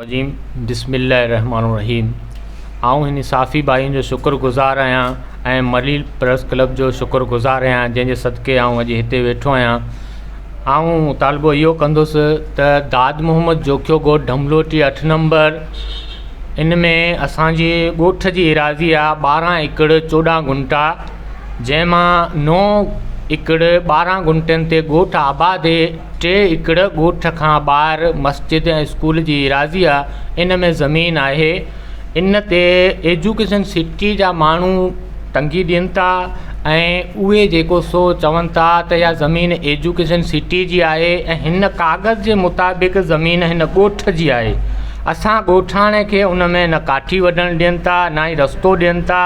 الرجيم بسم الله الرحمٰن الرحيم آئون هن صافي ڀائين جو شڪر گذار آهيان ۽ مليل پريس ڪلب جو شڪر گذار آهيان جنهن جي صدقي آئون اڄ هتي ويٺو آهيان آئون مطالبو اهو ڪندس ته داد محمد جوکيو ڳوٺ ڍملوٽي اٺ نمبر ان ۾ اسانجي ڳوٺ جي ايراضي آهي ٻارهن ايڪڙ چوڏهن گنٽا جنهن مان نو ايڪڙ ٻارهن گنٽن تي ڳوٺ آباد ٽي ايڪڙ ڳوٺ کان ٻاهر مسجد ۽ اسڪول جي ايراضي آ ان ۾ زمين آهي ان تي ايجوڪيشن سٽي جا ماڻهو تنگي ڏين ٿا ۽ اهي جيڪو سو چون ٿا ته اها زمين ايجوڪيشن سٽي جي آهي ۽ هن ڪاغذ جي مطابق زمين هن ڳوٺ جي آهي اسان ڳوٺاڻي کي ان ۾ نه ڪاٺي وڍڻ ڏين ٿا نه ئي رستو ڏين ٿا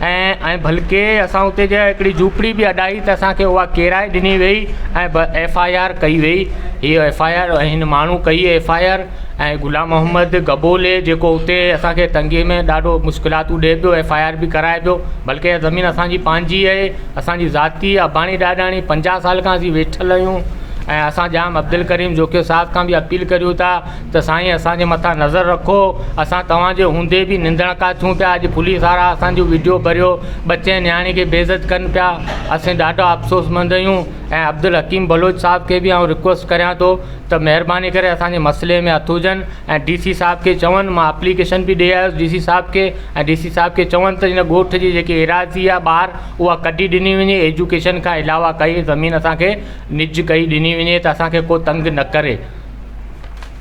۽ ۽ بلڪه اسان اتي جا هڪڙي جهوپڙي به اڏائي ته اسانکي اها ڪيرائي ڏني وئي ۽ ب ايف آء آر ڪئي وئي هيء ايف آء آر هن ماڻهو ڪئي F I R ۽ Ghulam Muhammad Gaboli جيڪو اتي اسانکي تنگي ۾ ڏاڍو مشڪلاتون ڏئي پيو ايف آء آر به ڪرائي پيو بلڪه اها زمين اسانجي پنهنجي اهي اسانجي ذاتي اباڻي ڏاڏاڻي پنجاهه سال کان اسين ويٺل آهيون ۽ اسان ڄام عبدالڪريم جوکيو صاحب کان به اپيل ڪريون ٿا ته سائين اسان جي مٿان نظر رکو اسان توهان جي هوندي به نندڻ ڪا ٿيون پيا اڄ پوليس وارا اسان جو ويڊيو ڀريو ٻچي نياڻي کي بي عزت ڪن پيا اسين ڏاڍا افسوس مند اهيون ۽ عبدالحڪيم بلوچ صاحب کي به آئون رڪويسٽ ڪريان ٿو ته مهرباني ڪري اسان جي مسئلي ۾ هٿ هجن ۽ ڊي سي صاحب کي چون مان اپليڪيشن به ڏئي آيس ڊي سي صاحب کي ۽ ڊي سي صاحب کي چون ته هن ڳوٺ جي جيڪي ايراضي آهي ٻاهر اها ڪڍي ڏني وڃي ايجوڪيشن کان علاوه ڪئي زمين اسان کي نج ڪئي ڏني وڃي ته اسان کي ڪو تنگ نه ڪري